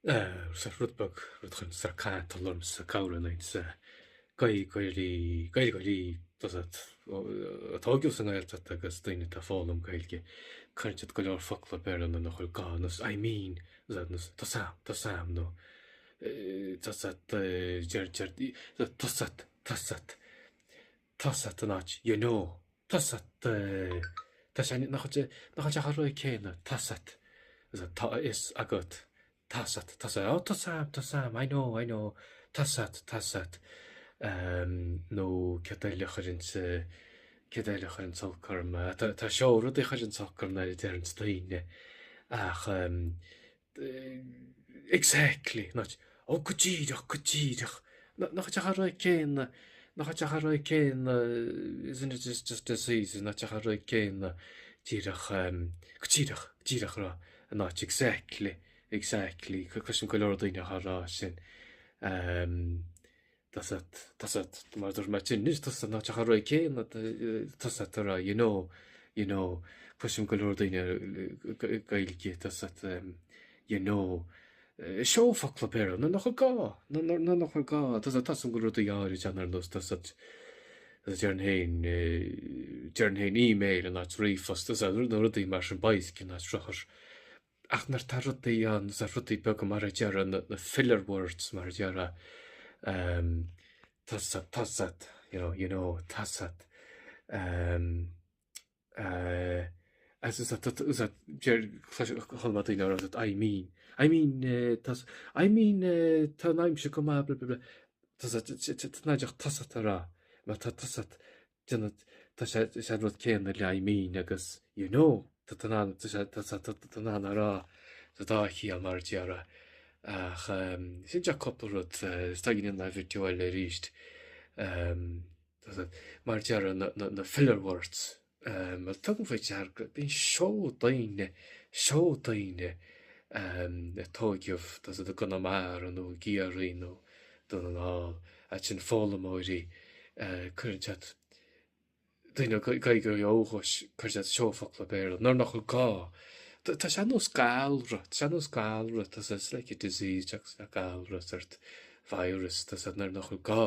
Sir Rudbog, rud chun Sir Cathal ormsa cabhair a n-ait sa Gaeilgeoirí, Gaeilgeoirí atá óg sa nGaeltacht agus daoine atá foghlaim Gaeilge, cuireann siad go leor focla ab fhearr anonn a chur go nos I mean nos tá sam, tá sam nó tá sat, deir, deir, tá sat, tá sat. Tusa den áit, you know. Tusa de, tá sé, nach ait é, nach ait ach an rud céanna, tusa, tá a fhios agat, tusa, tusa, oh tusa, tusa, I know, I know, tusa, tusa, em, nó céard eile a chuireann sa, céard eile a chuireann sa olc orm, tá, tá seó rudaí a chuireann sa olc orm nuair a deireanns daoine, ach, em, Exactly, not Ó go díreach, go díreach. Nach bhfuil sé chomh réidh céanna, nach bhfuil sé chomh réidh céanna, isn't it just, just as easy, nach bhfuil sé chomh réidh céanna, díreach, um, go díreach, díreach a rá, not exactly, exactly, cloisim go leor daoine ag rá sin. Um, Tusa, tusa, mar a dúirt mé tinn anois, tusa ná teach an Roinn céanna a d', tusa ta ra, you know, you know, cloisim go leor daoine Ga- Gaeilge, tusa, em, you know, eh, seó focla péire, na n-othar gá, na n-or- na n-othar gá, tusa, tosaim go leor daoine áirid ann ar nós, tusa, tusa, deireann féin, eh, deireann féin email in áit ríomhphost, tusa, na rudaí mar sin, baill cinn áit rothar. Ach nuair tá rudaí ann is ea rudaí beaga mar a deir an na filler words mar a deir ehm tusa tusa you know you know tusa ehm eh as is that is that deir chlais- chuir mé daoine orm that I mean I mean eh tusa I mean eh tá an aimsir chomh maith bla bla bla tusa t- t- t- t- nigh deacht tusa a rá má tá tusa Déanann tá sé is an rud céanna le I mean agus you know tá tú in ann tá sé tá tá tú in ann a rá sa dá chiall mar a déarfá ach ehm sin é cúpla rud eh, is dóigh go ndéanfaidh mé video eile aríst ehm tá tú mar a déarfá na na na filler words ehm mar tugaim faoi deara go bíonn seó daoine seó daoine ehm a tóigeadh tá a fhios agat i gConamara nó i gCiarraí nó Dún na nGall ansin foghlaimeoirí cuireann siad daoine le Gaeilge ó dhúchas cuireann siad seó focla Béarla nuair nachar gá. Tá sé nós galra tá sé nós galra tá sé it's like a disease atá acu galra sórt virus tá sé nuair nachar gá.